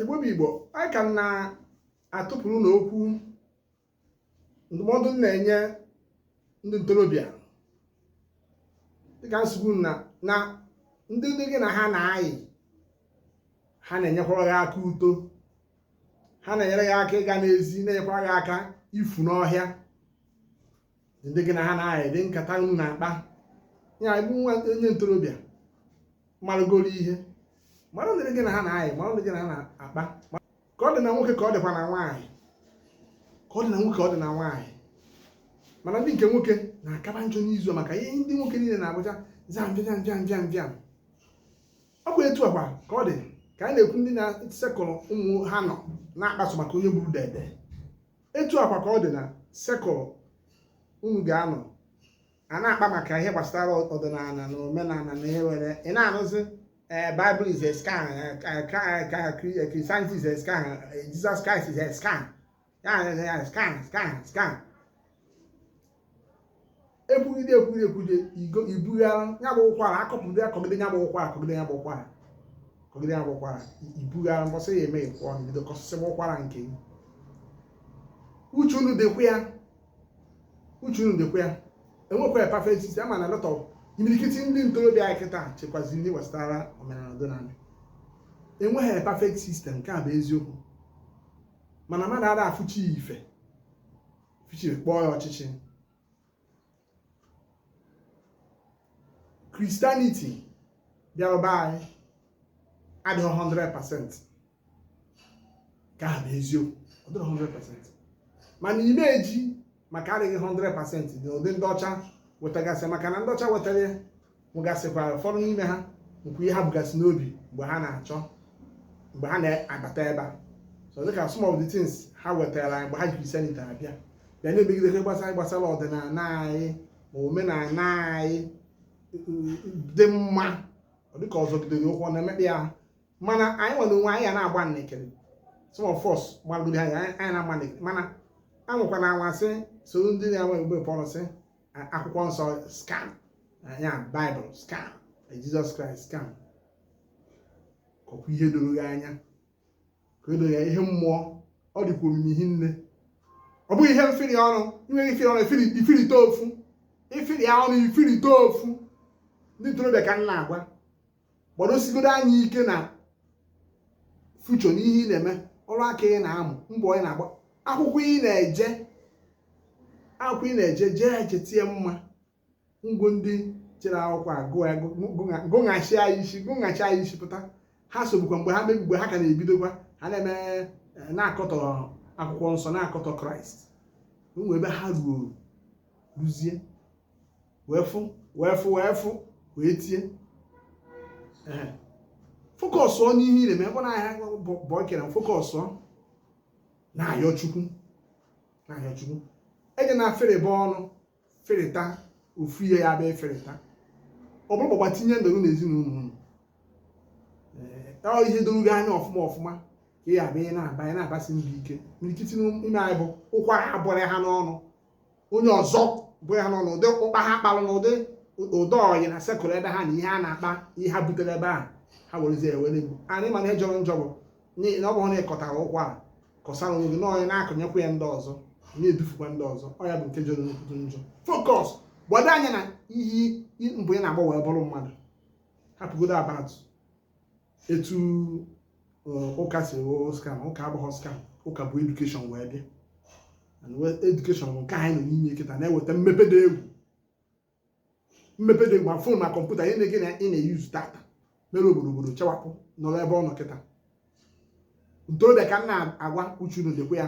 igbo bụ igbo anyị ka na-atụpụrụ unu okwu ndụmọdụ m na-enye ndị ntorobịa dịka m si gwa unu na na ndị ndị gị na ha na-ayị ha na-enyekwara gị aka uto ha na-enyere gị aka ịga n'ezi na-enyekwara gị aka ifu n'ọhịa ndị gị na ha na-ayị ụdị nkata unu na-akpa ya bụ nwa onye ntorobịa marụgoro ihe mara ndị gị na ha na-ayị mara ndị gị na ha na-akpa ka ọ dị na nwoke ka ọ dịkwa na nwaanyị ka ọ dị na nwoke ka ọ dị na nwaanyị mana ndị nke nwoke na-akaba njọ n'izu maka ihe ndị nwoke niile na-abụcha zam bịam bịam bịam bịam ọ bụ etu a kwa ka ọ dị ka a na-ekwu ndị na circle unu ga-anọ na-akpa sọ maka onye gburu dede etu a kwa ka ọ dị na circle unu ga-anọ a na-akpa maka ihe gbasara ọdịnala na omenala na ihe were ị na-anụzi ee Bible is a scam Christianity is a scam Jesus Christ is a scam ya scam scam scam ekwugide ekwugide ekwugide ibughara ya bụ ụkwara akwapụgide akwagide ya bụ ụkwara akwagide ya bụ ụkwara akwagide ya bụ ụkwara ibughara mbọsị ya eme ịkwụ ọnụ bido kwasịsịba ụkwara nke gị uche unu dịkwa ya uche unu dịkwa ya enwekwa a perfect system ama m na a lot of imirikiti ndị ntorobịa anyị kịta chekwaziri ndị gbasara omenala ọdịnala enweghị a perfect system nke a bụ eziokwu mana mmadụ ada afụcha ife fụchaa kpọọ ya ọchịchị Christianity bịara be anyị adịghị 100% nke ahụ bụ eziokwu ọ dịghị 100% mana ị ma-eji maka adịghị 100% dị ụdị ndị ọcha wetagasị maka na ndị ọcha wetara ya nwegasịkwara ụfọdụ n'ime ha nwekwu ihe ha bugasị n'obi mgbe ha na-achọ mgbe ha na-abata ebe a so dịka some of the things ha wetara anyị mgbe ha ji Christianity abịa bịa na-emegidekwa gbasara gbasara ọdịnala anyị ma omenala anyị dị mma ọ dịka ọ zọgidere ụkwụ ọ na-emekpa ya mana anyị nwere onwe anyị ya na-agba nnekere some of us gbagoro anyị anyị na-agba nnekere mana anwụkwa na anwasị soro ndị na-enwe mgbe pọrọsị akwụkwọ nsọ scam ya Bible scam Jesus Christ scam kọkwa ihe doro gị anya ka o doo ya ihe mmụọ ọ dịkwa omimi hinne ọ bụghị ihe mfiri ọnụ inweghị ifiri ọnụ ifirite ofu ifiri ọnụ ifirite ofu ndị ntorobịa ka m na-agwa gbadosigodo anya ike na future n'ihe ị na-eme ọrụ aka ị na-amụ mbọ ị na-agba akwụkwọ ị na-eje jee eje tie mma ngwo ndị jere akwụkwọ gụghachi anyị isi pụta ha sobukwa mgbe ha mgbe ha ka na-ebidokwa ha na-eme eh, na-akọtọ akwụkwọ nsọ na-akọtọ kraịst o nwe ebe ha ruo ruzie wee fụ wee tie focus n'ihe ị na-eme na ahịa bụ ekere focus na-ayọ chukwu na-ayọ chukwu eje na ferebe ọnụ ferịta ofu ihe ya bịa eferịta ọ bụrụ gbagba tinye ndoro na ezinụlọ unu ihe doro gị anya ọfụma ọfụma ka ị abịa na-aba ya na-abasi ndị ike imirikiti n'ime anyị bụ ụkwara a bụrụ ha n'ọnụ onye ọzọ bụrụ ha n'ọnụ ụdị ụkpa ha kpalụ na ụdị ọyị na circle ebe ha na ihe a na-akpa ihe ha butere ebe ahụ ha werezie ewere egwu anyị mana ihe jọrọ njọ bụ na ọ bụrụ na ị kọtara ụkwụ a kọsara onwe gị na onye na-akọnyekwa ya ndị ọzọ na-edufukwa ndị ọzọ ọ ya bụ nke jọrọ nnukwu njọ focus gbado anya na ihe mbọ ị na-agba wee bụrụ mmadụ hapụgodo about etu uh, ụka si wụrụ scam ụka abụghị scam ụka bu education wee bịa education nke anyị nọ n'ime kịta na-eweta mmepe dị egwu ma phone ma computer ihe na-ege na ị na-eyuzu tata mere obodo chawapụ nọrọ ebe ọ nọ kịta ntorobịa ka m na-agwa uche unu dịkwa ya